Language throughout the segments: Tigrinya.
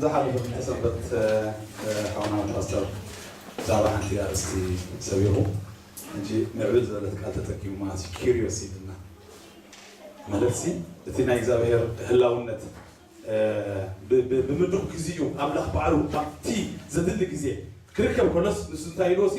ዝሓለፈ ክልተ ሰንበት ሓውና ፓስተር ብዛዕባ ሓንቲ ኣርእስቲ ሰቢሩ ሕጂ ምዕብል ዝበለት ቃል ተጠቂሙ ማለት እዩ ኪሪዮስ ኢልና ማለት ሲ እቲ ናይ እግዚኣብሔር ህላውነት እ፣ ብ- ብ- ብምዱቕ ግዜኡ ኣምላኽ ባዕሉ ኣብቲ ዘድሊ ግዜ ክርከብ ከሎስ ንሱ እንታይ ኢልዎ ሲ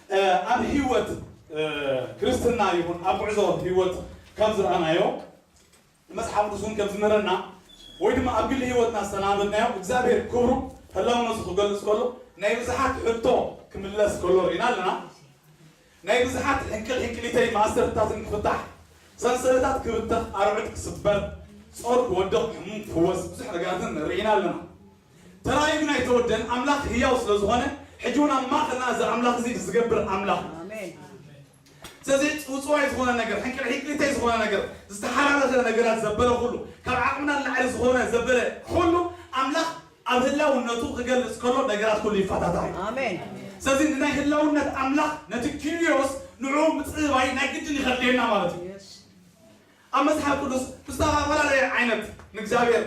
ኣብ ህይወት ክርስትና ይኹን ኣብ ጉዕዞ ህይወት ከም ዝረኣናዮ መጽሓፍ ቅዱስ እውን ከም ዝምህረና ወይ ድማ ኣብ ግሊ ህይወትና ዝተላመድናዮ እግዚኣብሔር ክብሩ ህላውነቱ ክገልጽ ከሎ ናይ ብዙሓት ሕቶ ክምለስ ከሎ ርኢና ኣለና ናይ ብዙሓት ሕንቅል ሕንቅሊተይ ማእሰርትታትን ክፍታሕ ሰንሰለታት ክብተኽ ኣርዑት ክስበር ጾር ክወድቕ ሕሙም ክፍወስ ብዙሕ ነገራትን ርኢና ኣለና ተራእዩ ግን ኣይተወደን ኣምላክ ህያው ስለ ዝኮነ ሕጂ ውን ኣብ ማእከልና እዚ ኣምላክ እዚ ዝገብር ኣምላክ እዩ ስለዚ ጽውጽዋይ ዝኮነ ነገር ሕንቅልሒቅሊተይ ዝኮነ ነገር ዝተሓራረፈ ነገራት ዘበለ ኩሉ ካብ ዓቅምና ንላዕሊ ዝኮነ ዘበለ ኩሉ ኣምላክ ኣብ ህላውነቱ ክገልጽ ከሎ ነገራት ኩሉ ይፈታታሕ እዩ ኣሜን ስለዚ ንናይ ህላውነት ኣምላኽ ነቲ ኪርዮስ ንዑ ምፅባይ ናይ ግድን ይኸድልየና ማለት እዩ ኣብ መፅሓፍ ቅዱስ ብዝተፈላለየ ዓይነት ንእግዚኣብሔር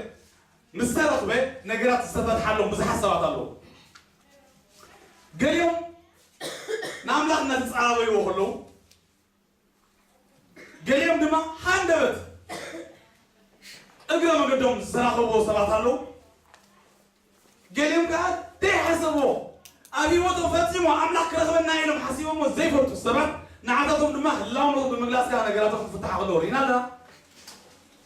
ምስ ተረኽበ ነገራት ዝተፈትሓሎም ብዙሓት ሰባት ኣለዉ። ገሊኦም ንኣምላኽ እናተጸባበይዎ ከለዉ፣ ገሊኦም ድማ ሃንደበት እግረ መገዶም ዝተራኸብዎ ሰባት ኣለዉ። ገሊኦም ከኣ ዘይሓሰብዎ ኣብ ህይወቶም ፈጺሙ ኣምላኽ ክረኽበና እዩ ኢሎም ሓሲቦምዎ ዘይፈልጡ ሰባት ንዓታቶም ድማ ህላውነቶም ብምግላጽ ከኣ ነገራቶም ክፍትሓ ከለዉ ርኢና ኣለና።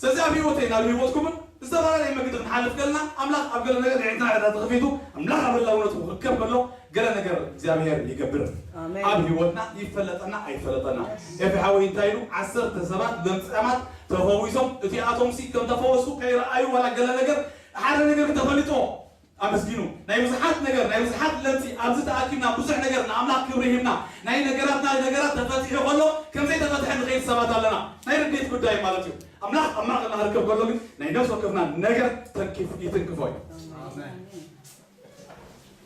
ስለዚ ኣብ ህይወተይ ናብ ህይወትኩምን ብዝተፈላለየ መገዲ ክንሓልፍ ከለና ኣምላኽ ኣብ ገለ ነገር ንዒንትና ዕዳ ተኸፊቱ ኣምላኽ ኣብ ህላውነቱ ክርከብ ከሎ ገለ ነገር እግዚኣብሄር ይገብር ኣብ ህይወትና ይፈለጠና ኣይፈለጠና ኤፊ ሓወይ እንታይ ኢሉ ዓሰርተ ሰባት ለምጻማት ተፈዊሶም እቲኣቶምሲ ከም ተፈወሱ ከይረኣዩ ዋላ ገለ ነገር ሓደ ነገር ተፈሊጥዎ ኣመስግኑ ናይ ብዙሓት ነገር ናይ ብዙሓት ለምጺ ኣብዚ ተኣኪብና ብዙሕ ነገር ንኣምላኽ ክብሪ ሂብና ናይ ነገራትና ነገራት ተፈቲሑ ከሎ ከምዘይ ተፈትሐ ንኸይድ ሰባት ኣለና ናይ ርድኢት ጉዳይ ማለት እዩ ኣምላኽ ኣብ ማእኸልና ክርከብ ከሎ ግን ናይ ነፍሲ ወከፍና ነገር ተንኪፍ ይትንክፎ እዩ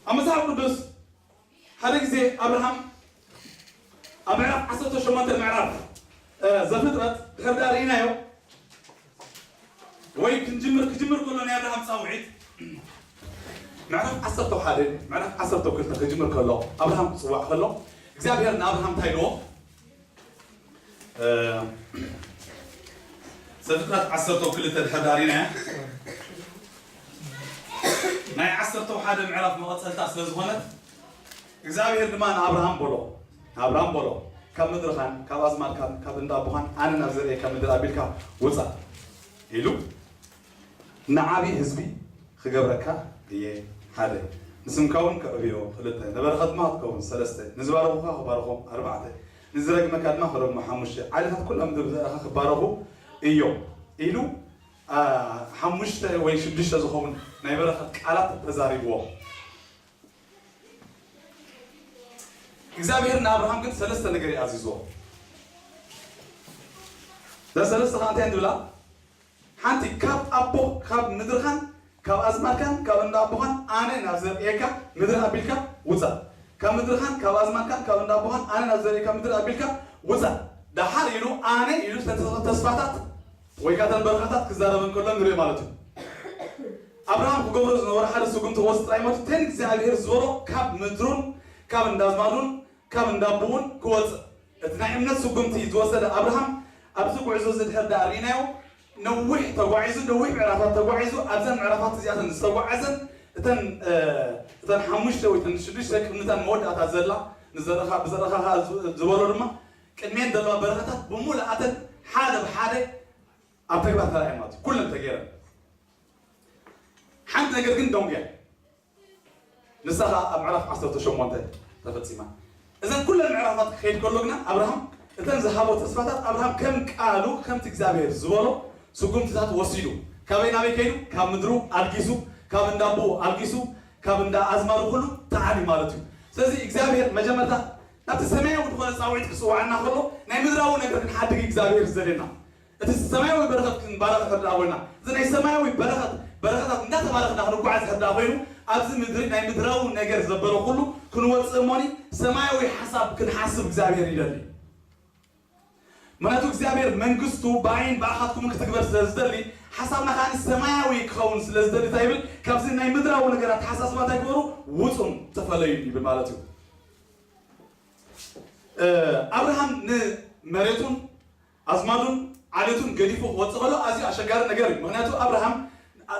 ኣብ መጽሓፍ ቅዱስ ሓደ ግዜ ኣብርሃም ኣብ ምዕራፍ ዓሰርተ ሸሞንተ ምዕራፍ ዘፍጥረት ድሕር ድኣ ርኢናዮ ወይ ክንጅምር ክጅምር ከሎ ናይ ኣብርሃም ጻውዒት ምዕራፍ ዓሰርተ ሓደ ምዕራፍ ዓሰርተ ክልተ ክጅምር ከሎ ኣብርሃም ክጽዋዕ ከሎ እግዚኣብሄር ንኣብርሃም እንታይ ኢልዎ ሰንጥቃት ዓሰርተው ክልተ ተሐዳሪና እያ ናይ ዓሰርተው ሓደ ምዕራፍ መቐፀልታ ስለ ዝኾነት እግዚኣብሔር ድማ ንኣብርሃም በሎ ኣብርሃም በሎ ካብ ምድርኻን ካብ ኣዝማድካን ካብ እንዳ ኣቦኻን ኣነ ናብ ዘርእየካ ምድር ኣቢልካ ውፃእ ኢሉ ንዓብዪ ህዝቢ ኽገብረካ እየ፣ ሓደ። ንስምካውን ከዕብዮ፣ ኽልተ። ንበረኸት ድማ ኽትከውን፣ ሰለስተ። ንዝባረኹኻ ኽባርኾም፣ ኣርባዕተ። ንዝረግመካ ድማ ኽረግሞ፣ ሓሙሽተ። ዓሌታት ኵላ ምድሪ ብዘርእኻ ኽባረኹ እዮም፣ ኢሉ ሓሙሽተ ወይ ሽዱሽተ ዝኸውን ናይ በረኸት ቃላት ተዛሪብዎም። እግዚኣብሄር ንኣብርሃም ግን ሰለስተ ነገር እዩ ኣዚዝዎ። እዘን ሰለስተ ኸኣ እንታይ እየን ዝብላ? ሓንቲ ካብ ኣቦ ካብ ምድርኻን ካብ ኣዝማድካን ካብ እንዳ ኣቦኻን ኣነ ናብ ዘርእየካ ምድሪ ኣቢልካ ውጻእ ካብ ምድርኻን ካብ ኣዝማድካን ካብ እንዳ ኣቦኻን ኣነ ናብ ዘርእየካ ምድሪ ኣቢልካ ውጻእ ደሓር ኢሉ ኣነ ኢሉ ዝተን ተስፋታት ወይ ከኣ እተን በረኻታት ክዛረበን ከሎ ንርኢ ማለት እዩ ኣብርሃም ክገብሮ ዝነበሮ ሓደ ስጉምቲ ወስ ጥራይ ማለት እዩ እተን እግዚኣብሄር ዝበሎ ካብ ምድሩን ካብ እንዳ ኣዝማዱን ካብ እንዳ ኣቦኡን ክወጽእ እቲ ናይ እምነት ስጉምቲ ዝወሰደ ኣብርሃም፣ ኣብዚ ጉዕዞ እዚ ድሕር ደኣ ርኢናዮ፣ ነዊሕ ተጓዒዙ፣ ነዊሕ ምዕራፋት ተጓዒዙ፣ ኣብዘን ምዕራፋት እዚኣተን ዝተጓዓዘን እተን እተን ሓሙሽተ ወይ እተን ሽዱሽተ ቅድሚታን መወዳእታ ዘላ ንዘረኻ ብዘረኻኻ ዝበሎ ድማ ቅድሜን ዘለዋ በረኻታት ብምሉኣተን ሓደ ብሓደ ኣብ ተግባር ተራእየን ማለት እዩ ኩለን ተገይረን ሓንቲ ነገር ግን ደንጉያ ንሳ ኸኣ ኣብ ምዕራፍ ዓሰርተ ሸሞንተ ተፈጺማ። እዘን ኩለን ምዕራፋት ክኸይድ ከሎ ግና ኣብርሃም እተን ዝሃቦ ተስፋታት ኣብርሃም ከም ቃሉ ከምቲ እግዚኣብሄር ዝበሎ ስጉምትታት ወሲዱ። ካበይ ናበይ ከይዱ? ካብ ምድሩ ኣልጊሱ፣ ካብ እንዳ ኣቦኡ ኣልጊሱ፣ ካብ እንዳ ኣዝማዱ ኩሉ ተዓልዩ ማለት እዩ። ስለዚ እግዚኣብሄር መጀመርታ ናብቲ ሰማያዊ ዝኾነ ጻውዒት ክጽውዓና ከሎ ናይ ምድራዊ ነገር ክንሓድግ እዩ እግዚኣብሄር ዝደልየና። እቲ ሰማያዊ በረኸት ክንባረኽ እንተድኣ ኾይና፣ እዚ ናይ ሰማያዊ በረኸት በረኸታት እንዳተባረኽና ክንጓዓዝ እንተድኣ ኾይኑ፣ ኣብዚ ምድሪ ናይ ምድራዊ ነገር ዘበለ ኩሉ ክንወጽእ እሞኒ ሰማያዊ ሓሳብ ክንሓስብ እግዚኣብሄር ይደሊ። ምኽንያቱ እግዚኣብሄር መንግስቱ ብኣይን ብኣኻትኩምን ክትግበር ስለ ዝደሊ፣ ሓሳብና ከኣ ሰማያዊ ክኸውን ስለ ዝደሊ እንታይ ይብል፣ ካብዚ ናይ ምድራዊ ነገር ኣተሓሳስባ እንታይ ግበሩ ውጹን ተፈለዩን ይብል ማለት እዩ። ኣብርሃም ንመሬቱን ኣዝማዱን ዓሌቱን ገዲፉ ክወጽእ ከሎ ኣዝዩ ኣሸጋሪ ነገር እዩ። ምኽንያቱ ኣብርሃም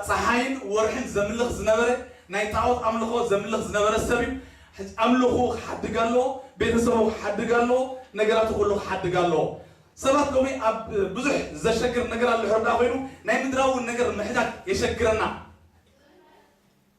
ጸሓይን ወርሒን ዘምልኽ ዝነበረ ናይ ጣኦት ኣምልኾ ዘምልኽ ዝነበረ ሰብ እዩ። ሕጂ ኣምልኹኡ ክሓድግ ኣለዎ፣ ቤተሰቡ ክሓድግ ኣለዎ፣ ነገራቱ ኩሉ ክሓድግ ኣለዎ። ሰባት ሎሚ ኣብ ብዙሕ ዘሸግር ነገር ኣሎ ሕርድኣ ኮይኑ ናይ ምድራዊ ነገር ምሕዳግ የሸግረና።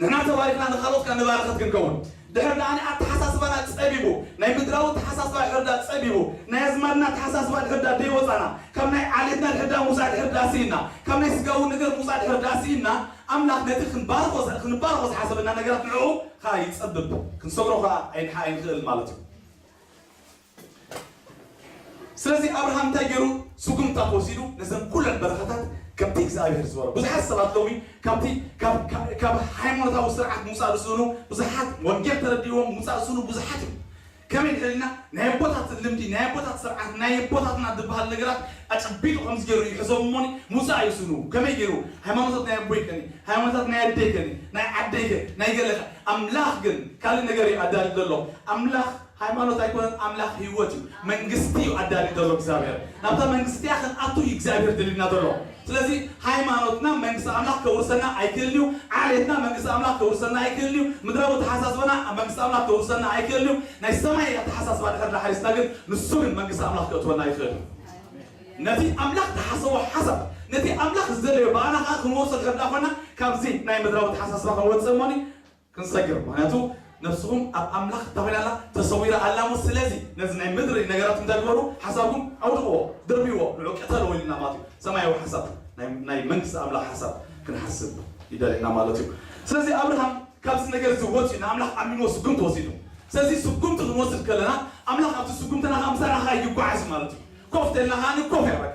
ንሕና ተባሪኽና ንኻልኦት ከኣ ንባረኸት ክንከውን ድሕር ደኣ ኣተሓሳስባና ጸቢቡ ናይ ምድራዊ ኣተሓሳስባ ድሕር ደኣ ጸቢቡ ናይ ኣዝማድና ኣተሓሳስባ ድሕር ደኣ ደይወጻና ካብ ናይ ዓሌትና ድሕር ደኣ ምውጻእ ድሕር ደኣ ስኢንና ካብ ናይ ስጋዊ ነገር ምውጻእ ድሕር ደኣ ስኢንና ኣምላኽ ነቲ ክንባርኾ ክንባርኾ ዝሓሰበና ነገራት ንዕኡ ከኣ ይጸብብ ክንሰግሮ ከኣ ኣይንክእል ማለት እዩ። ስለዚ ኣብርሃም እንታይ ገይሩ? ስጉምትታት ወሲዱ ነዘን ኩለን በረኻታት ከምቲ እግዚኣብሄር ዝበሎ። ብዙሓት ሰባት ሎሚ ካብቲ ካብ ካብ ሃይሞኖታዊ ስርዓት ምውጻእ ዝስእኑ ብዙሓት፣ ወንጌል ተረዲእዎም ምውጻእ ዝስእኑ ብዙሓት እዮም። ከመይ ድሕር ኢልና ናይ ኣቦታት ልምዲ፣ ናይ ኣቦታት ስርዓት፣ ናይ ኣቦታትና ዝበሃል ነገራት ኣጨቢጡ ከምዚ ገይሩ ይሕዞም እሞኒ ምውጻእ ይስእኑ። ከመይ ገይሩ? ሃይማኖታት ናይ ኣቦይ ከኒ፣ ሃይማኖታት ናይ ኣደይ ከኒ፣ ናይ ዓደይ ከ፣ ናይ ገለ ከ። ኣምላኽ ግን ካልእ ነገር እዩ ኣዳልዩ ዘሎ። ኣምላኽ። ሃይማኖት ኣይኮነን ኣምላኽ ሂወት እዩ መንግስቲ እዩ ኣዳልዩ ዘሎ እግዚኣብሔር ናብታ መንግስቲ እቲኣ ክንኣቱ እዩ እግዚኣብሔር ድልዩና ዘሎ ስለዚ ሃይማኖትና መንግስቲ ኣምላኽ ከውርሰና ኣይክእልን እዩ ዓሌትና መንግስቲ ኣምላኽ ከውርሰና ኣይክእልን እዩ ምድራዊ ኣተሓሳስባና መንግስቲ ኣምላኽ ከውርሰና ኣይክእልን እዩ ናይ ሰማይ ኣተሓሳስባ ድሕር ዳሓሪስና ግን ንሱ ግን መንግስቲ ኣምላኽ ከእትወና ይኽእል እዩ ነቲ ኣምላኽ ድሓሰቦ ሓሳብ ነቲ ኣምላኽ ዝደለዮ ብኣና ከኣ ክንወርሶ ድሕር ዳኾና ካብዚ ናይ ምድራዊ ኣተሓሳስባ ክንወጽእ እሞኒ ክንሰግር ምክንያቱ ነፍስኹም ኣብ ኣምላኽ እንታይ ኮይና ኣላ ተሰዊራ ኣላ እሞ ስለዚ ነዚ ናይ ምድሪ ነገራት እንታይ ግበሩ ሓሳብኩም ኣውድቅዎ ድርብይዎ ንዑ ቅተልዎ ኢሉና ማለት እዩ ሰማያዊ ሓሳብ ናይ መንግስቲ ኣምላኽ ሓሳብ ክንሓስብ ይደልየና ማለት እዩ ስለዚ ኣብርሃም ካብዚ ነገር እዚ ወፅዩ ንኣምላኽ ኣሚንዎ ስጉምቲ ወሲዱ ስለዚ ስጉምቲ ክንወስድ ከለና ኣምላኽ ኣብዚ ስጉምትና ከዓ ምሳና ከዓ ይጓዓዝ ማለት እዩ ኮፍ ተልና ከዓ ንኮፍ እያ በቃ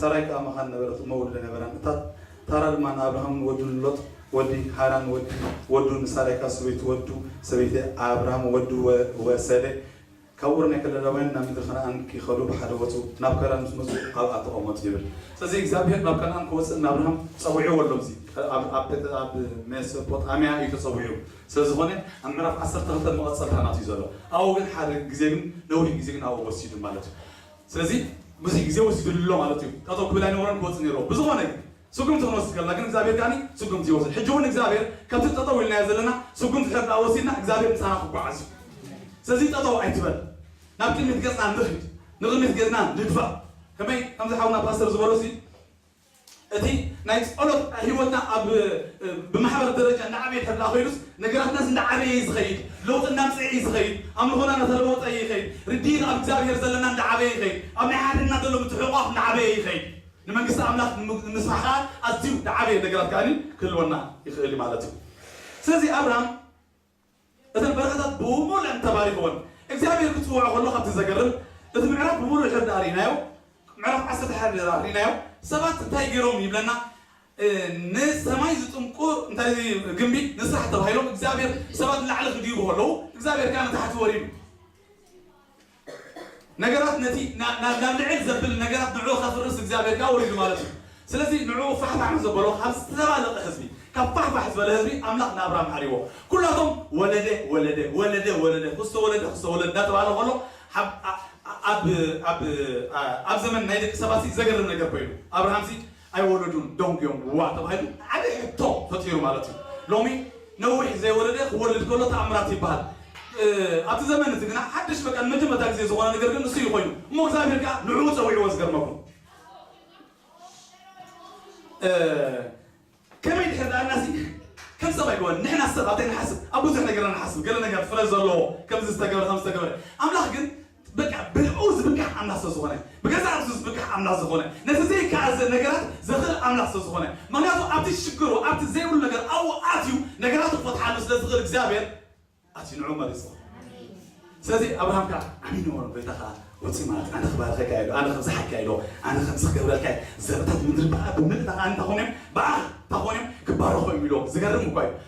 ሳራይ ከኣ መኻን ነበረት፣ እሞ ወልደ ነበራን። እታ ታራ ድማ ንኣብርሃምን ወዱን ሎጥ ወዲ ሃራን ወዲ ወዱ ንሳራይ ካብ ሰበይቱ ወዱ ሰበይቲ ኣብርሃም ወዱ ወሰደ። ካብ ኡር ናይ ከለዳውያን ናብ ምድሪ ከነኣን ኪኸዱ ብሓደ ወጹ፣ ናብ ከራን ምስ መጹ ኣብኣ ተቐመጡ ይብል። ስለዚ እግዚኣብሄር ናብ ከነኣን ክወጽእ ንኣብርሃም ጸዊዕዎ ኣሎ ኣብዚ ኣብ ሜሶጶጣምያ እዩ ተጸዊዑ ስለ ዝኾነ ኣብ ምዕራፍ ዓሰርተ ክልተ መቐጸልታ ናቱ እዩ ዘሎ ኣብኡ ግን ሓደ ግዜ ግን ነዊሕ ግዜ ግን ኣብኡ ወሲዱ ማለት እዩ። ስለዚ ብዙሕ ግዜ ወሲዱሉ ኣሎ ማለት እዩ። ጠጠው ክብል ኣይነበሮን ክወጽእ ነይርዎ። ብዝኾነ ግን ስጉምቲ ክንወስድ ከለና ግን እግዚኣብሄር ከኣ ስጉምቲ ይወስድ። ሕጂ እውን እግዚኣብሄር ከምቲ ጠጠው ኢልናዮ ዘለና ስጉምቲ ድሕሪ ደኣ ወሲድና እግዚኣብሄር ምሳና ክጓዓዝ እዩ። ስለዚ ጠጠው ኣይትበል ናብ ቅድሚት ገጽና ንኺድ ንቕድሚት ገጽና ንድፋእ። ከመይ ከምዚ ሓውና ፓስተር ዝበሎሲ፣ እቲ ናይ ጸሎት ህይወትና ኣብ ብማሕበር ደረጃ እንዳዓበየ እንተድኣ ከይዱስ ነገራትናስ እንዳዓበየ እዩ ዝኸይድ፣ ለውጢ እንዳምጽኤ እዩ ዝኸይድ፣ ኣምልኾና እንዳተለወጠ እዩ ይኸይድ፣ ርድኢት ኣብ እግዚኣብሄር ዘለና እንዳዓበየ ይኸይድ፣ ኣብ ናይ ሓድሕድና ዘሎ ምትሕቑቛፍ እንዳዓበየ ይኸይድ፣ ንመንግስቲ ኣምላኽ ንምስፋሕ ከኣ ኣዝዩ ዝዓበየ ነገራት ከኣ ክህልወና ይኽእል እዩ ማለት እዩ። ስለዚ ኣብርሃም። እተን በረኻታት ብሙሉኤን ተባሪኽወን። እግዚኣብሄር ክጽውዖ ከሎ ከምቲ ዘገርም እቲ ምዕራፍ ብምሉኡ ድሕሪ ድኣ ርኢናዮ ምዕራፍ ዓሰርተ ሓደ ድኣ ርኢናዮ ሰባት እንታይ ጌሮም ይብለና ንሰማይ ዝጥምቁ እንታይ ግምቢ ንስራሕ ተባሂሎም እግዚኣብሄር ሰባት ንላዕሊ ክድይቡ ከለዉ እግዚኣብሄር ከኣ ንታሕቲ ወሪዱ ነገራት ነቲ ናብ ልዕል ዘብል ነገራት ንዕኡ ከፍርስ እግዚኣብሔር ከኣ ወሪዱ ማለት እዩ ስለዚ ንዕኡ ፋሕፋሕ ንዘበሎ ካብ ዝተደባለቀ ህዝቢ ካብ ፋሕፋሕ ዝበለ ህዝቢ ኣምላኽ ንኣብርሃም ሓርይዎ ኩላቶም ወለደ ወለደ ወለደ ወለደ ኹስተ ወለደ ኹስተ ወለደ እንዳተባህለ ኸሎ ኣብ ኣብ ኣብ ኣብ ዘመን ናይ ደቂ ሰባትሲ ዘገርም ነገር ኮይኑ ኣብርሃምሲ ኣይወለዱን ዶንግ ዮንግ እዋ ተባሂሉ ዓቢ ሕቶ ፈጢሩ ማለት እዩ ሎሚ ነዊሕ ዘይወለደ ክወልድ ከሎ ተኣምራት ይበሃል ኣብቲ ዘመን እዚ ግና ሓድሽ በቃ ንመጀመርታ ግዜ ዝኾነ ነገር ግን ንሱ እዩ ኮይኑ እሞ እግዚኣብሔር ከኣ ንዕኡ ጸዊዕዎ ዝገርመኩም ከመይ ድሕር ደኣ እናሲ ከም ሰብ ኣይኮነን ንሕና ሰብ ኣብታይ ንሓስብ ኣብ ብዙሕ ነገርና ንሓስብ ገለ ነገር ፍረ ዘለዎ ከምዚ ዝተገብረ ከም ዝተገብረ ኣምላኽ ግን በቃ ብእኡ ዝብካሕ ኣምላኽ ስለ ዝኾነ ብገዛእ ርእሱ ዝብካሕ ኣምላኽ ዝኾነ ነቲ ዘይከኣል ዘ ነገራት ዘኽእል ኣምላኽ ስለ ዝኾነ ምኽንያቱ ኣብቲ ሽግሩ ኣብቲ ዘይብሉ ነገር ኣብኡ ኣትዩ ነገራቱ ክፈትሓሉ ስለ ዝኽእል እግዚኣብሔር ኣትዩ ንዕኡ መሪጽዎ ስለዚ ኣብርሃም ከዓ ኣሚንዎ ነበረ ጎይታ ከዓ ወፂኡ ማለት ኣነ ክባርኸካ እየ ኢሉ ኣነ ከምዚ ሓካ እየ ኢሉ ኣነ ከምዚ ክገብረልካ እየ ዘርታት ምድሪ በኣ ብምልእ ናዓ እንታይ ኮኑ እዮም በኣ እንታይ ኮኑ እዮም ክባረኹ እዮም ኢሉ ዝገርም እኳ እዩ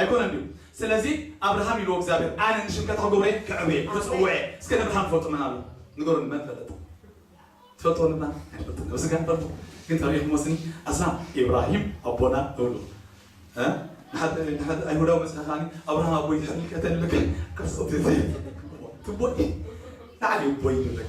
ኣይኮነን ድዩ ስለዚ ኣብርሃም ኢልዎ እግዚኣብሔር ኣነ ንሽምከታ ክገብሮ እየ ከዕርቦ እየ ክጽውዖ እየ እስከ ነብርሃም ዝፈልጦ መን ኣሎ ንገሩኒ መን ፈለጥ ትፈልጥዎ ንብርሃም ኣይንፈልጥን ኣብዚ ጋር ንፈልጦ ግን ተሪኢኹምዎ ስኒ ኣስላም ኢብራሂም ኣቦና ንብሎ እ ንሓደ ንሓደ ኣይሁዳዊ መጽሓ ከዓኒ ኣብርሃም ኣቦይ ድሕሪ ልቀተ ንልክዕ ቅርጽ ትቦይ ንዓሊ ቦይ ንልክዕ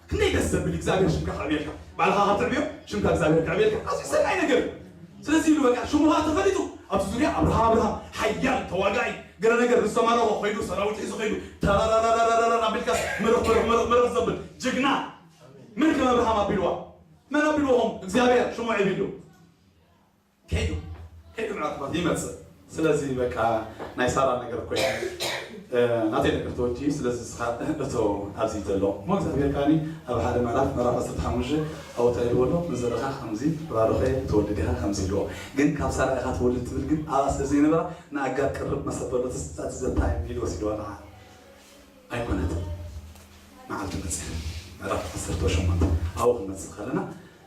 ክንደይ ደስ ዘብል እግዚኣብሔር ሽምካ ከዕብየልካ ባዕልካ ካብ ትዕብዮ ሽምካ እግዚኣብሔር ከዕብየልካ ኣዝዩ ሰናይ ነገር እዩ ስለዚ ኢሉ በቃ ሽሙ ከኣ ተፈሊጡ ኣብዚ ዙርያ ኣብርሃም ኣብርሃም ሓያል ተዋጋኢ ገለ ነገር ምስ ተማረኾ ከይዱ ሰራዊት ሒዙ ከይዱ ተረረረረረረር ኣቢልካስ ምርኽ ምርኽ ምርኽ ምርኽ ዘብል ጅግና መን ከም ኣብርሃም ኣቢልዋ መን ኣቢልዎም እግዚኣብሔር ሽሙ ዒብሉ ከይዱ ከይዱ ምናልባት ይመጽእ ስለዚ በቃ ናይ ሳራ ነገር ኮይኑ ናተይ ነገር ተወዲኡ ስለዚ ንስካ እቶ ኣብዚ ዘሎ እሞ እግዚኣብሄር ከኣ ኣብ ሓደ ምዕራፍ ምዕራፍ ዓሰርተ ሓሙሽተ ኣወታ ኢልዎ ኣሎ ንዘርካ ከምዚ ባርኮ እየ ክትወልድ ኢካ ከምዚ ኢልዎ ግን ካብ ሳራ ኢካ ትወልድ ትብል ግን ኣብኣ ስለ ዘይነበራ ንኣጋር ቅርብ መሰል በሎ ትስጣት ዘታይም ኢሉ ወሲድዋ ንዓ ኣይኮነትን መዓልቲ መጽያ ምዕራፍ ዓሰርተ ሸሞንተ ኣብኡ ክንመጽእ ከለና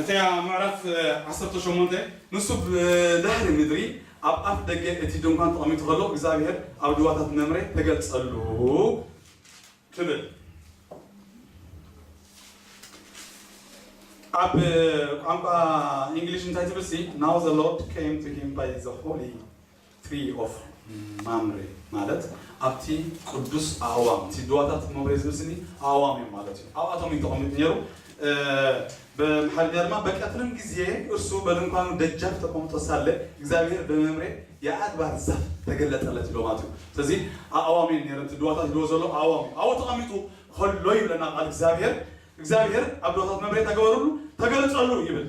እተያ ምዕራፍ ዓሰርተ ሸሞንተ ንሱ ብ ናህሪ ምድሪ ኣብ ኣፍ ደገ እቲ ድንኳን ተቐሚጡ ከሎ እግዚኣብሄር ኣብ ድዋታት መምሬ ተገልጸሉ ትብል። ኣብ ቋንቋ ኢንግሊሽ እንታይ ትብል ሲ ናው ዘ ሎርድ ኬም ቱ ሂም ባይ ዘ ሆሊ Tree of Mamre ማለት ኣብቲ ቅዱስ ኣእዋም እቲ ድዋታት መምሬ ዝምስሊ ኣእዋም እዮም ማለት እዩ ኣብኣቶም እዩ ተቐሚጡ ነይሩ በምሓርኛ ድማ በቀትርም ጊዜ እርሱ በድንኳኑ ደጃፍ ተቀምጦ ሳለ እግዚኣብሔር በመምሬ የኣድባር ዛፍ ተገለጠለት ይብሎ ማለት እዩ ስለዚ ኣእዋም እየን ነይረን እቲ ድዋታት ይብሎ ዘሎ ኣእዋም እዩ ኣብኡ ተቐሚጡ ከሎ ይብለና ቃል እግዚኣብሔር እግዚኣብሔር ኣብ ድዋታት መምሬ ተገበርሉ ተገልጸሉ ይብል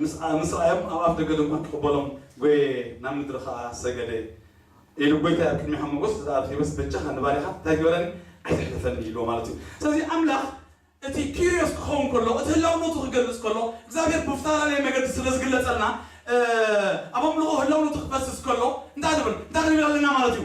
ምስ ረኣዮም ኣብ ኣፍደገ ድንኳን ክቕበሎም ጎየየ፣ ናብ ምድሪ ኸኣ ሰገደ። ኢሉ ጎይታይ ኣብ ቅድሚኻ ሞጎስ እንተ ረኺበስ፣ በጃኻ ንባርያኻ እንታይ ግበረኒ፣ ኣይተሕልፈኒ ኢልዎ ማለት እዩ። ስለዚ ኣምላኽ እቲ ኪርዮስ ክኸውን ከሎ፣ እቲ ህላውነቱ ክገልጽ ከሎ፣ እግዚኣብሄር ብፍተላለየ መገዲ ስለ ዝግለጸልና ኣብ ኣምልኾ ህላውነቱ ክፈስስ ከሎ እንታይ ንብል እንታይ ክንብል ኣለና ማለት እዩ።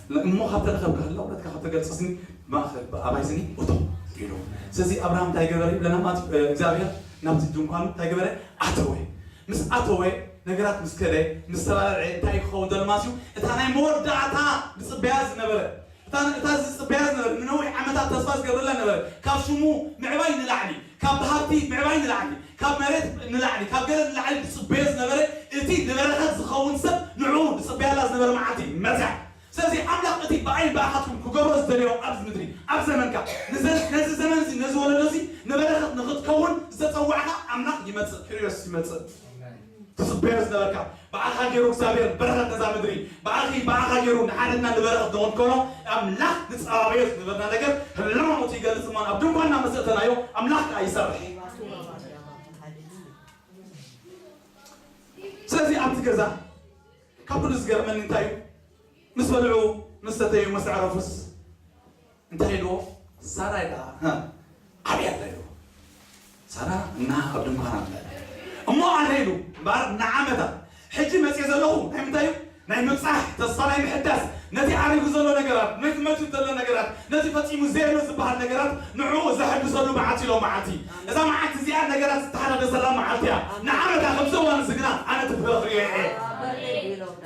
እሞ ካብ ተረኸብካ ህላውነትካ ካብ ተገልጸስኒ ማእከል ብኣባይትኒ እቶ ኢሉ ስለዚ ኣብርሃም እንታይ ገበረ ይብለና ማለት እዩ እግዚኣብሔር ናብቲ ድንኳኑ እንታይ ገበረ ኣተወ ምስ ኣተወ ነገራት ምስ ከደ ምስ ተባላልዐ እንታይ እዩ ክኸውን ዘሎ ማለት እዩ እታ ናይ መወዳእታ ዝጽበያ ዝነበረ እታ ዝጽበያ ዝነበረ ንነዊሕ ዓመታት ተስፋ ዝገብረላ ነበረ ካብ ሽሙ ምዕባይ ንላዕሊ ካብ ብሃብቲ ምዕባይ ንላዕሊ፣ ካብ መሬት ንላዕሊ፣ ካብ ገለ ንላዕሊ ድጽበዮ ዝነበረ፣ እቲ ንበረኸት ዝኸውን ሰብ ንዕኡ ድጽበያላ ዝነበረ መዓልቲ መጽያ። ስለዚ ኣምላኽ እቲ ብኣይን ብኣኻትኩም ክገብሮ ዝደለዮ ኣብዚ ምድሪ፣ ኣብ ዘመንካ፣ ንዘ ነዚ ዘመን እዚ ነዚ ወለዶ እዚ ንበረኸት ንኽትከውን ዝተጸዋዕካ ኣምላኽ ይመጽእ፣ ኪርዮስ ይመጽእ። ትጽበዮ ዝነበርካ ብኣኻ ጌሩ እግዚኣብሔር በረኸት ነዛ ምድሪ ብኣኺ ብኣኻ ጌሩ ንሓደትና ንበረኸት ንኽንኮኖ ኣምላኽ ንጸባበዮ ዝነበርና ነገር ህላውነቱ ይገልጽ እሞ ኣብ ድንኳንና ምስ እተናዮ ኣምላኽ ከኣ ይሰርሕ ስለዚ ኣብቲ ገዛ ካብ ኩሉ ዝገርመኒ እንታይ እዩ ምስ በልዑ ምስ ሰተዩ ምስ ኣዕረፉስ እንታይ ኢልዎ ሳራ ኢላ ሃ ኣበይ ኣላ ኢልዎ ሳራ እና ኣብ ድንኳን ኣላ ኢላ እሞ ኣነ ኢሉ እምበኣር ንዓመታ ሕጂ መጽየ ዘለኹ ናይ ምንታይ እዩ ናይ ምብጻሕ ተስፋ ናይ ምሕዳስ ነቲ ዓሪጉ ዘሎ ነገራት ነቲ መትዩ ዘሎ ነገራት ነቲ ፈጺሙ ዘየሎ ዝበሃል ነገራት ንዕኡ ዘሐድሰሉ መዓልቲ ኢሎም መዓልቲ እዛ መዓልቲ እዚኣ ነገራት ዝተሓዳደሰላ መዓልቲ እያ ንዓመታ ከምዚ እዋን እዚ ግና ኣነ እቲ ፍረ ክርእዮ እየ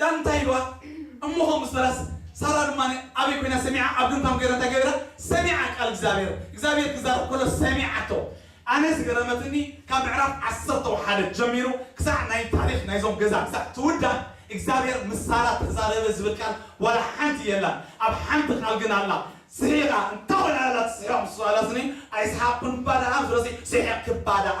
ዳን እንታይ ኢልዋ እሞ ከምኡ ምስ በላስ ሳራ ድማ ኣበይ ኮይና ሰሚዓ ኣብ ድንኳን ገይራ እንታይ ገቢራ ሰሚዓ ቃል እግዚኣብሔር እግዚኣብሔር ክዛረብ ከሎ ሰሚዓቶ ኣነ ዝገረመትኒ ካብ ምዕራፍ ዓሰርተ ሓደ ጀሚሩ ክሳዕ ናይ ታሪክ ናይዞም ገዛ ክሳዕ ትውዳእ እግዚኣብሔር ምስ ሳራ ተዛረበ ዝብል ቃል ዋላ ሓንቲ የላን ኣብ ሓንቲ ቃል ግን ኣላ ስሒቃ እንታይ ኮን ኣላ ትስሕቅ ምስ በላትኒ ኣይስሓቅኩን እባ ደኣ ምስ በላትኒ ስሒቅኪ እባ ደኣ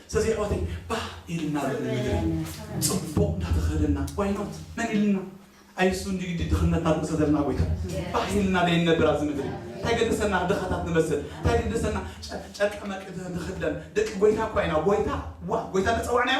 ስለዚ ኣሕዋተይ ባህ ኢልና ልዑል ምድሪ ፅቡቅ እንዳተኸደና why not መን ኢልና ኣይሱ እንዲ ግዲ ድኽነት ናብ ርእሰ ዘለና ጎይታ ባህ ኢልና ደይንነብር ኣብዚ ምድሪ እንታይ ገደሰና ድኻታት ንመስል እንታይ ገደሰና ጨ- ጨርቀ መርቂ ንኽደን ደቂ ጎይታ እኳ ኢና ጎይታ ዋ ጎይታ ተፀዋዕናዮ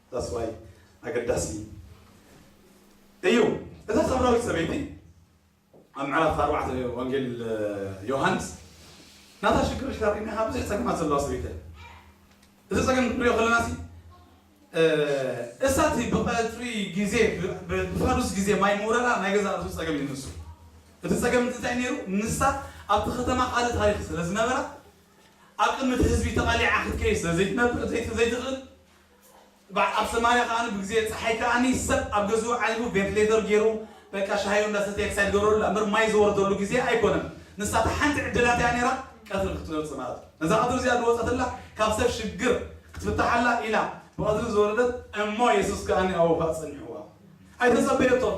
That's why ኣገዳሲ እዩ እታ ሳምራዊት ሰበይቲ ኣብ ምዕራፍ ኣርባዕተ ወንጌል ዮሃንስ ናታ ሽግር ሻሪና ካብ ብዙሕ ፀገማት ዘለዋ ሰበይቲ እዚ ፀገም ክንሪኦ ከለና ሲ እሳት ብቀፅሪ ግዜ ብፋዱስ ግዜ ማይ ምውረዳ ናይ ገዛ ርእሱ ፀገም እዩ ንሱ እቲ ፀገም እዚ እንታይ ነይሩ ንሳ ኣብቲ ከተማ ካልእ ታሪክ ስለ ዝነበራ ኣብ ቅድሚ እቲ ህዝቢ ተቃሊዓ ክትከይድ ስለ ዘይትነብር ዘይትኽእል ባዕ ኣብ ሰማርያ ከኣ ብግዜ ጸሓይ ከኣ ሰብ ኣብ ገዝኡ ዓሊቡ ቤት ሌዘር ጌሩ በቃ ሻሂኡ እንዳ ሰተየ ክሳይ ዝገብረሉ እላ እምበር ማይ ዝወርደሉ ግዜ ኣይኮነን ንሳ እታ ሓንቲ ዕድላት እያ ኔራ ቀትሪ ክትወጽእ ማለት እዩ ነዛ ቀትሪ እዚኣ ድወጸትላ ካብ ሰብ ሽግር ክትፍታሕ ኣላ ኢላ ብቀትሪ ዝወረደት እሞ የሱስ ከኣ ኣብኡ ከኣ ጸኒሕዋ ኣይተጸበየቶን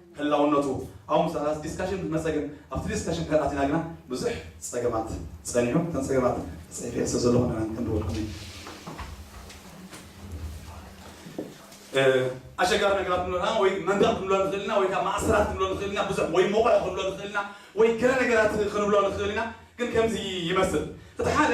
ህላውነቱ ኣብኡ ምስ ኣተና ዲስካሽን ምስ መጸ ግን ኣብቲ ዲስካሽን እንድሕር ኣቲና ግና ብዙሕ ጸገማት ጸኒሑ እተን ጸገማት ጽሒፈየን ስለ ዘለኹ ንዕን ክንድወልኩም እዩ ኣሸጋሪ ነገራት ክንብሎ ንኽእል ወይ መንደቕ ክንብሎ ንኽእል ኢና ወይ ከዓ ማእሰራት ክንብሎ ንኽእል ኢና ብዙሕ ወይ ሞቕዕ ክንብሎ ንኽእል ኢና ወይ ገለ ነገራት ክንብሎ ንኽእል ኢና ግን ከምዚ ይመስል እቲ ሓደ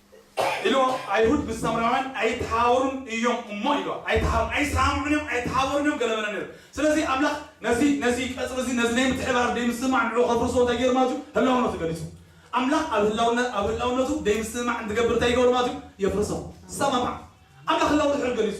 ኢልዎ ኣይሁድ ምስ ሳምራውያን ኣይተሓባበሩን እዮም እሞ ኢልዎ ኣይተሓባበሩን ኣይሰማምዑን እዮም ኣይተሓባበሩን እዮም ገለ በለ ነይሩ ስለዚ ኣምላኽ ነዚ ነዚ ቀጽሪ እዚ ነዚ ናይ ምትሕብባር ደይምስምማዕ ንዕኡ ከፍርሶ እንታይ ገይሩ ማለት እዩ ህላውነቱ ገሊጹ ኣምላኽ ኣብ ህላውነት ኣብ ህላውነቱ ደይምስምማዕ እንትገብር እንታይ ይገብሮ ማለት እዩ የፍርሶ ዝሰማማዕ ኣምላኽ ህላው ድሕሪ ገሊጹ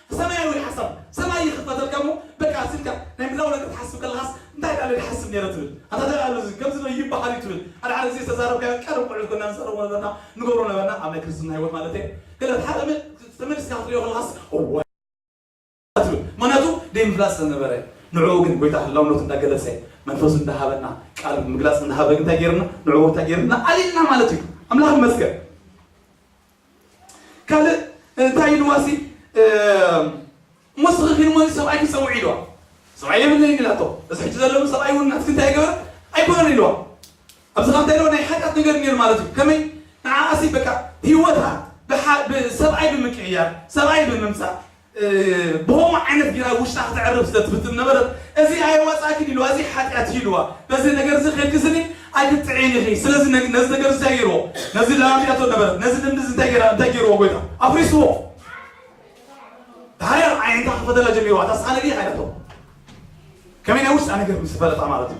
ሰማያዊ ሓሳብ ሰማይ ይኽፈተልካ እሞ በቃ ስልካ ናይ ምህላው ነገር ትሓስብ ከለኻስ እንታይ ዳኣለ ድሓስብ ነይረ ትብል ኣታ ደኣ እዚ ከምዚ ዶ ይብሃል እዩ ትብል ሓደ ሓደ ግዜ ዝተዛረብካዮ ቀደም ቆልዑት ኮና ንዛረቦ ነበርና ንገብሮ ነበርና ኣብ ናይ ክርስትና ሂወት ማለተየ ገለ ተሓ ተመሊስካ ክትሪኦ ከለኻስ እዋይ ትብል ምኽንያቱ ደይምፍላጥ ስለ ነበረ ንዕኡ ግን ጎይታ ህላውነቱ እንዳ ገለጸ መንፈሱ እንዳ ሃበና ቃሉ ብምግላጽ እንዳ ሃበ እንታይ ጌርና ንዕኡ እንታይ ጌርና ኣሊልና ማለት እዩ ኣምላኽ ይመስገን ካልእ እንታይ ኢልዋሲ እሞ ስኺ ሞኒ ሰብኣይኪ ፀውዒ ኢልዋ ሰብኣይ የብለይን ኢላቶ እዚ ሕጂ ዘለሉ ሰብኣይ እውን ናትኪ እንታይ ይገበር ኣይኮነን ኢልዋ ኣብዚ ካብ እንታይ ናይ ሓጢኣት ነገር ነይሩ ማለት እዩ ከመይ ንዓኣሲ በቃ ህይወታ ብሰብኣይ ብምቅይያር ሰብኣይ ብምምፃእ ብኸምኡ ዓይነት ገይራ ኣብ ውሽጣ ክተዕርፍ ስለ ትፍትን ዝነበረት፣ እዚ ኣይዋጻእክን ኢልዋ፣ እዚ ሓጢኣት እዩ ኢልዋ፣ በዚ ነገር እዚ ኬድኪ ስኒ ኣይክትጥዕይን ኢኺ፣ ስለዚ ነዚ ነገር እዚ እንታይ ገይርዎ? ነዚ ለማሚዳቶ ነበረት፣ ነዚ ልምዲ እዚ እንታይ ገይራ እንታይ ገይርዎ ጎይታ? ኣፍሪስዎ። ድሓር ኣዒንታ ክኸፈተላ ጀሚሩ፣ ኣታ ስኻ ነቢይ ኢኻ ኢላቶ፣ ከመይ ናይ ውሽጣ ነገር ምስ ፈለጣ ማለት እዩ።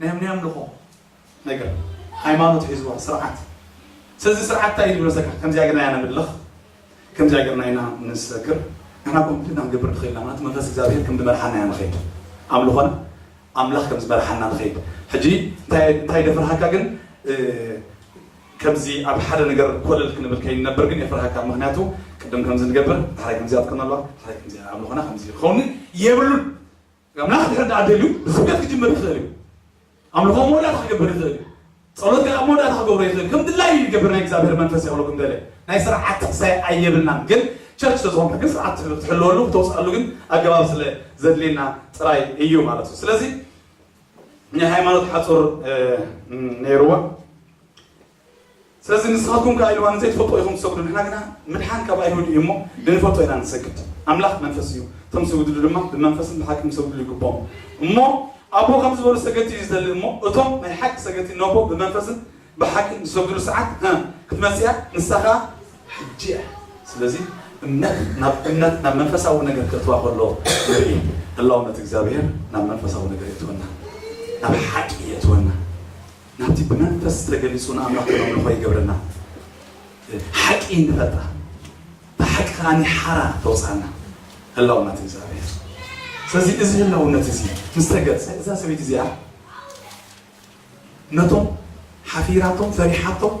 ናይ ኣምኒ ኣምልኾ ነገር ሃይማኖት ሒዝዎ ስርዓት ስለዚ ስርዓት እንታይ እዩ ዝብል መሰልካ ከምዚኣ ጌርና ኢና ነምልኽ ከምዚኣ ጌርና ኢና ንሰግር ንሕና ከምኡ ጌርና ክንገብር ንኽእል ኢና ማለት መንፈስ እግዚኣብሄር ከም ዝመርሓና ኢና ንኸይድ ኣምልኾና ኣምላኽ ከም ዝመርሓና ንኸይድ ሕጂ እንታይ ደፍርሃካ ግን ከምዚ ኣብ ሓደ ነገር ኮለል ክንብል ከይንነብር ግን የፍርሃካ ምክንያቱ ቅድም ከምዚ ንገብር ድሕራይ ከምዚኣ ትከነሏ ድሕራይ ከምዚ ኣምልኾና ከምዚ ክኸውን የብሉን ኣምላኽ እንድሕር ደኣ ደልዩ ብስብከት ክጅምር ይኽእል እዩ። ኣምልኾ ኣብ መወዳእታ ክገብር ይኽእል እዩ። ጸሎት ገለ ኣብ መወዳእታ ክገብሮ ይኽእል ከም ድላዩ ይገብር ናይ እግዚኣብሔር መንፈስ ይቕሎ ከም ደለ ናይ ስርዓት ጥቅሳይ ኣየብልናን ግን ቸርች ስለ ዝኾንካ ግን ስርዓት ትሕልወሉ ክተውፅኣሉ ግን ኣገባብ ስለ ዘድልየና ጥራይ እዩ ማለት እዩ ስለዚ ናይ ሃይማኖት ሓፁር ነይርዋ ስለዚ ንስኻትኩም ከኣ ኢልዋ ንዘይትፈልጥዎ ኢኹም ትሰግዱ፣ ንሕና ግና ምድሓን ካብ ኣይሁድ እዩ እሞ ንንፈልጦ ኢና ንሰግድ። ኣምላኽ መንፈስ እዩ፣ እቶም ዝስግድሉ ድማ ብመንፈስን ብሓቅን ክሰግድሉ ይግብኦም። እሞ ኣቦ ከምዚ ዝበሉ ሰገድቲ እዩ ዝደሊ እሞ እቶም ናይ ሓቂ ሰገድቲ ነቦ ብመንፈስን ብሓቅን ዝሰግድሉ ሰዓት ሀ ክትመጽእ እያ ንሳ ከኣ ሕጂ እያ። ስለዚ እምነት ናብ እምነት ናብ መንፈሳዊ ነገር ከእትዋ ከሎ ንርኢ። ህላውነት እግዚኣብሄር ናብ መንፈሳዊ ነገር የእትወና፣ ናብ ሓቂ የእትወና። ናብቲ ብመንፈስ ተገሊጹ ንኣምላኽ ነምልኾ ይገብረና፣ ሓቂ ንፈልጣ፣ እታ ሓቂ ከኣ ሓራ ተውጽኣና፣ ህላውነት እግዚኣብሔር። ስለዚ እዚ ህላውነት እዚ ምስ ተገልጸ እዛ ሰበይቲ እዚኣ ነቶም ሓፊራቶም ፈሪሓቶም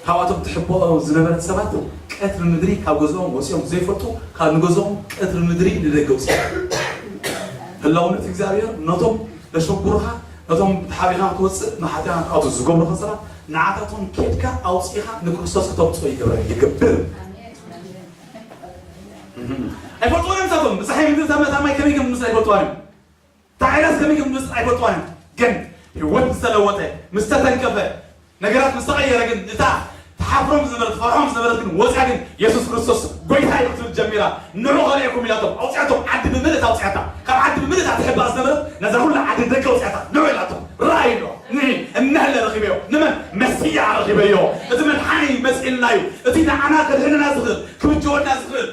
ካብ'ቶም ትሕበኦ ዝነበረት ሰባት ቀትሪ ምድሪ ካብ ገዝኦም ወጺኦም ዘይፈልጡ ካብ ንገዝኦም ቀትሪ ምድሪ ንደገ ውጺኦም ህላውነት እግዚኣብሔር ነቶም ለሸጉሩኻ ነቶም ተሓቢኻ ክትወጽእ መሓትያኻ ክኣቱ ዝገብሩኻ ሰባት ንዓታቶም ኬድካ ኣውጺኻ ንክርስቶስ ክተምጽኦ ይገብረ ይገብር ኣይፈልጥዎን እዮም ንሳቶም ብጸሓይ ምድሪ ታማይ ከመይ ከም ዝምስል ኣይፈልጥዋን እዮም እታ ዓይነት ሰበይቲ ክምልስ ኣይፈትዋን እዩ ግን ሂወት ምስ ተለወጠ ምስ ተተንከፈ ነገራት ምስ ተቀየረ ግን እታ ትሓፍሮም ዝነበረት ትፈርሖም ዝነበረት ግን ወጽያ ግን የሱስ ክርስቶስ ጎይታይ እዩ ክትብል ጀሚራ ንዑ ከርእየኩም ኢላቶም ኣውጽኣቶም ዓዲ ብምልእታ ኣውጽኣታ ካብ ዓዲ ብምልእታ ትሕባእ ዝነበረት ነዛ ኩላ ዓዲ ንደገ ኣውጽኣታ ንዑ ኢላቶም ራእይ ኣሎ ንዒ እነህለ ረኺበዮ ንመን መሲያ ረኺበዮ እቲ መድሓኒ መጺእልና እዩ እቲ ንዓና ከድሕነና ዝኽእል ክብጀወና ዝኽእል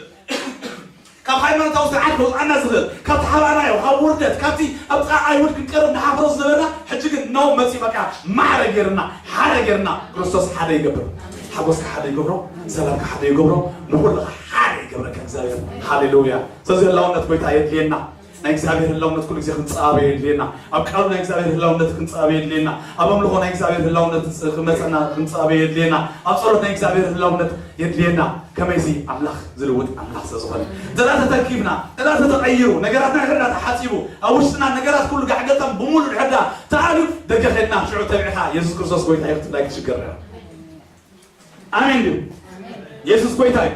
ካብ ሃይማኖታዊ ስርዓት ከውጽኣና ዝኽእል፣ ካብቲ ሓባእናዮ፣ ካብ ውርደት፣ ካብቲ ኣብ ጥቓ ኣይሁድ ክንቀርብ ንሓፍሮ ዝነበርና፣ ሕጂ ግን ኖእ መጺኡ በቃ ማዕረ ጌሩና፣ ሓደ ጌሩና። ክርስቶስ ሓደ ይገብር። ሓጎስካ ሓደ ይገብሮ፣ ሰላምካ ሓደ ይገብሮ፣ ንኹልኻ ሓደ ይገብረካ እግዚኣብሔር። ሃሌሉያ! ስለዚ ህላውነት ጎይታ የድልየና። ናይ እግዚኣብሔር ህላውነት ኩሉ ግዜ ክንጻበ የድልየና ኣብ ቃሉ ናይ እግዚኣብሔር ህላውነት ክንጻበ የድልየና ኣብ ኣምልኾ ናይ እግዚኣብሔር ህላውነት ክመጸና ክንጻበ የድልየና ኣብ ጸሎት ናይ እግዚኣብሔር ህላውነት የድልየና ከመይሲ ኣምላኽ ዝልውጥ ኣምላኽ ስለ ዝኾነ እንተዳ ተተኪብና እንተዳ ተተቐይሩ ነገራትና ሕዳ ተሓጺቡ ኣብ ውሽጥና ነገራት ኩሉ ጋዕገልጠም ብሙሉእ ሕዳ ተኣልዩ ደገ ኸድና ሽዑ ተብዒኻ የሱስ ክርስቶስ ጎይታ እዩ ክትብላ ክትሽገር ኣሜን ድዩ የሱስ ጎይታ እዩ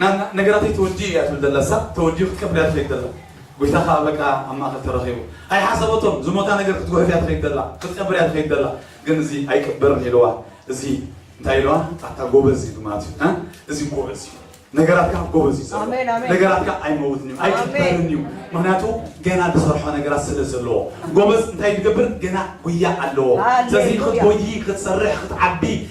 ናና ነገራተይ ተወዲኡ እያ ትብል ዘላ እሳ ተወዲኡ ክትቀበል እያ ትኸይድ ዘላ ጎይታ ከኣ በቃ ኣብ ማእከል ተረኺቡ ኣይሓሰበቶን ዝሞታ ነገር ክትጉሕፍ እያ ትኸይድ ዘላ ክትቀብር እያ ትኸይድ ዘላ ግን እዚ ኣይቅበርን ኢልዋ እዚ እንታይ ኢልዋ ኣታ ጎበዝ እዩ ማለት እዩ እ እዚ ጎበዝ እዩ ነገራትካ ጎበዝ እዩ ኣሜን፣ ኣሜን። ነገራትካ ኣይመውትን እዩ ኣይቅበርን እዩ ምክንያቱ ገና ዝሰርሖ ነገራት ስለ ዘለዎ ጎበዝ እንታይ ዝገብር ገና ጉያ ኣለዎ ሃሌሉያ። ስለዚ ክትጎይ ክትሰርሕ ክትዓቢ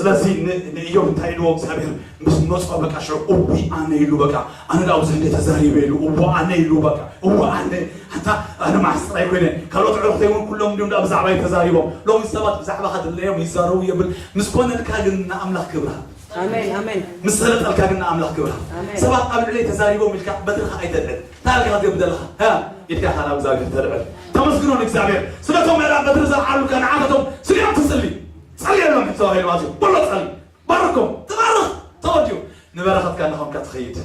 ስለዚ ንእዮብ እንታይ ኢልዎ እግዚኣብሄር ምስ መጾ በቃ ሽዑ እውይ ኣነ ኢሉ በቃ ኣነ ዳኣ ብዙሕ እንዴ ተዛሪበ ኢሉ እወ ኣነ ኢሉ በቃ እወ ኣነ ኣንታ ኣነ መዓስ ጥራይ ኮይነ ካልኦት ኣዕሩኽተይ እውን ኩሎም እንዲዮም ዳኣ ብዛዕባይ ተዛሪቦም ሎሚ ሰባት ብዛዕባኻ ድለዮም ይዛረቡ የብል ምስ ኮነልካ ግን ንኣምላኽ ክብሪ ሃብ ኣሜን ኣሜን ምስ ሰለጠልካ ግን ንኣምላኽ ክብሪ ሃብ ኣሜን። ሰባት ኣብ ልዕለይ ተዛሪቦም ኢልካ በትርኻ ኣይተልዕል እንታይ ኢልካ ክትገብር ዘለኻ እ ኢድካ ኢኻ ናብ እግዚኣብሄር ተልዕል ተመስግኖ ንእግዚኣብሄር ስለቶም ምዕራብ በትሪ ዘልዓሉልካ ንዓታቶም ስለ ትጽሊ ጸልየሎም ሕጂ ተባሂሉ ኣትዩ በሎ ጸሊ ባርኮም ተባረኽ ተወዲኡ ንበረኸትካ እናኾንካ ትኸይድ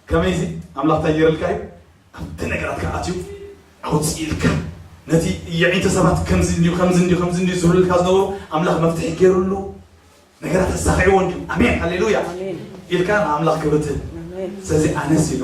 ከመይዚ ኣምላኽ እንታይ ገይርልካ እዩ ኣብቲ ነገራትካ ኣትዩ ኣውፅኢልካ ነቲ የዒንተ ሰባት ከምዚ እንዲዩ ከምዚ እንዲዩ ከምዚ እንዲዩ ዝብልልካ ዝነበሩ ኣምላኽ መፍትሒ ገይሩሉ ነገራት ኣሳኺዕዎ እንዲዩ ኣሜን ሃሌሉያ ኢልካ ንኣምላኽ ክብር ትህብ ስለዚ ኣነስ ኢሉ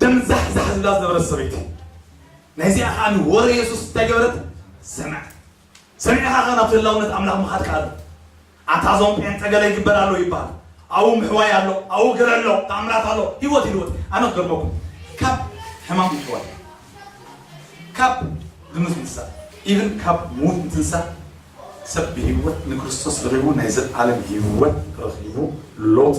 ደም ዛሕዛሕ ዝብላ ዝነበረት ሰበይቲ ናይዚኣ ከኣ ወረ የሱስ እንታይ ገበረት ሰምዐት ሰሚዕኻ ከ ናብቲ ህላውነት ኣምላኽ ምኻድ ከኣ ኣሎ ኣታ እዞም ጴንጠ ገለ ይግበር ኣሎ ይበሃል ኣብኡ ምሕዋይ ኣሎ ኣብኡ ገለ ኣሎ ተኣምራት ኣሎ ህይወት ይልወጥ ኣነ ክገርመኩም ካብ ሕማም ምሕዋይ ካብ ድምፅ ምትሳእ ኢብን ካብ ምዉት ምትንሳእ ሰብ ብህይወት ንክርስቶስ ረኺቡ ናይ ዘለኣለም ህይወት ረኺቡ ሎጥ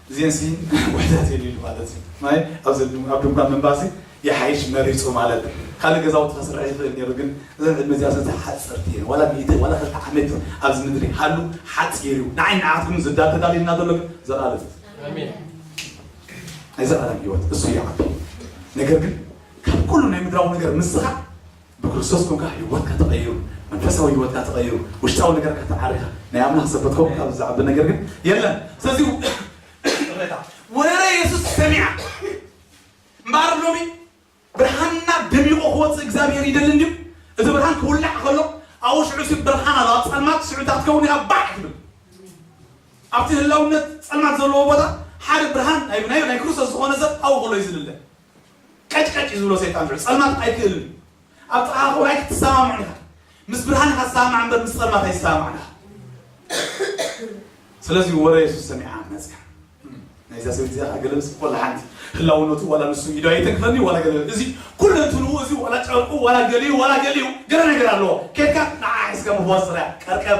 እዚኤንሲ ውሕደት የድልዩ ማለት እዩ ማይ ኣብዚ ኣብ ድንኳን ምንባርሲ ይሓይሽ መሪጹ ማለት ካልእ ገዛውቲ ከስርሕ ይኽእል ኔሩ ግን እዘን ዕድመ እዚኣ ሰቲ ሓጸርቲ እየን ዋላ ሚእቲ ዋላ ክልተ ዓመት ኣብዚ ምድሪ ሃሉ ሓጺር እዩ ንዓይ ንዓትኩም ዝዳል ተዳልዩልና ዘሎ ግን ዘልኣለም ናይ ዘልኣለም ሂወት እሱ ይዓቢ ነገር ግን ካብ ኩሉ ናይ ምድራዊ ነገር ምስኻዕ ብክርስቶስ ኮንካ ህይወትካ ተቀይሩ መንፈሳዊ ህይወትካ ተቀይሩ ውሽጣዊ ነገርካ ተዓሪካ ናይ ኣምላክ ሰብ ክትከውን ካብዚ ዝዓቢ ነገር ግን የለን ስለዚ ይቅሬታ ወረ የሱስ ሰሚዓ እምበኣር ሎሚ ብርሃንና ደሚቁ ክወፅእ እግዚኣብሄር ይደሊ እንድዩ እቲ ብርሃን ክውላዕ ከሎ ኣብኡ ሽዑ ሲ ብርሃን ኣሎ ኣብ ፀልማት ሽዑ እታ ክትከውን ኢኻ ባዕ ትብል ኣብቲ ህላውነት ፀልማት ዘለዎ ቦታ ሓደ ብርሃን ናይ ናይ ክርስቶስ ዝኾነ ሰብ ኣብኡ ከሎ እዩ ዝልለ ቀጭ ቀጭ እዩ ዝብሎ ሰይጣን ልዑል ጸልማት ኣይክእልን እዩ ኣብ ጥቓኻ ክኸውን ኣይክትሰማምዑን ኢኻ ምስ ብርሃን ኢኻ ትሰማማዕ እምበር ምስ ጸልማት ኣይሰማማዕን ኢኻ ስለዚ ወረ የሱስ ሰሚዓ መፅያ ናይዛ ሰበይቲ እዚኣ ገለ ምስ ኮላ ሓንቲ ህላውነቱ ዋላ ንሱ ኢዶ ኣይተንክፈኒ ዋላ ገለ እዚ ኩሉ እንትንኡ እዚ ዋላ ጨርቁ ዋላ ገሊኡ ዋላ ገሊኡ ገለ ነገር ኣለዎ ኬድካ ንዓ ሒዝካ ምፍዋስ ጥራያ ቀርቀብ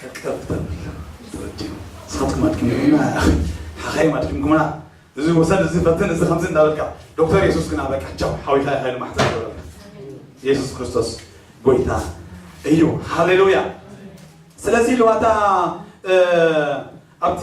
ቀጥቀጥ ተብልና እዚ ረድዮ ንስኻትኩም ኣድኪምኩምና ያኣኺ ሓኻይም ኣድኪምኩምና እዚ ውሰድ እዚ ፈትን እዚ ከምዚ እንዳበልካ ዶክተር የሱስ ግና በቃ ቻው ሓዊኻ ይኸይሉ ማሕፀን ይገብረልካ የሱስ ክርስቶስ ጎይታ እዩ ሃሌሉያ ስለዚ ልዋታ ኣብቲ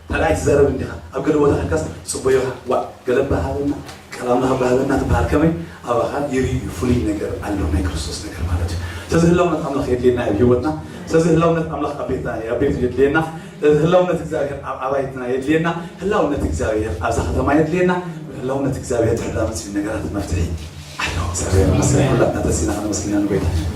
ካልኣይ ትዛረብ እንዲኻ ኣብ ገለ ቦታ ከድካስ ትጽበዮ ኢኻ ዋእ ገለ እባ ሃበና ቃል ኣምላኽ እባ ሃበና ትብሃል ከመይ ኣባኻ ይርኢ እዩ ፍሉይ ነገር ኣሎ ናይ ክርስቶስ ነገር ማለት እዩ ስለዚ ህላውነት ኣምላኽ የድልየና እዩ ኣብ ሂወትና ስለዚ ህላውነት ኣምላኽ ኣብ ቤትና ኣብ ቤቱ የድልየና ስለዚ ህላውነት እግዚኣብሔር ኣብ ኣባይትና የድልየና ህላውነት እግዚኣብሔር ኣብዛ ከተማ የድልየና ህላውነት እግዚኣብሔር ድሕር ዳመጽ ነገራት መፍትሒ ኣሎ እግዚኣብሔር ይመስገን ኩላትና ተሲና ከነመስግና ንጎይታ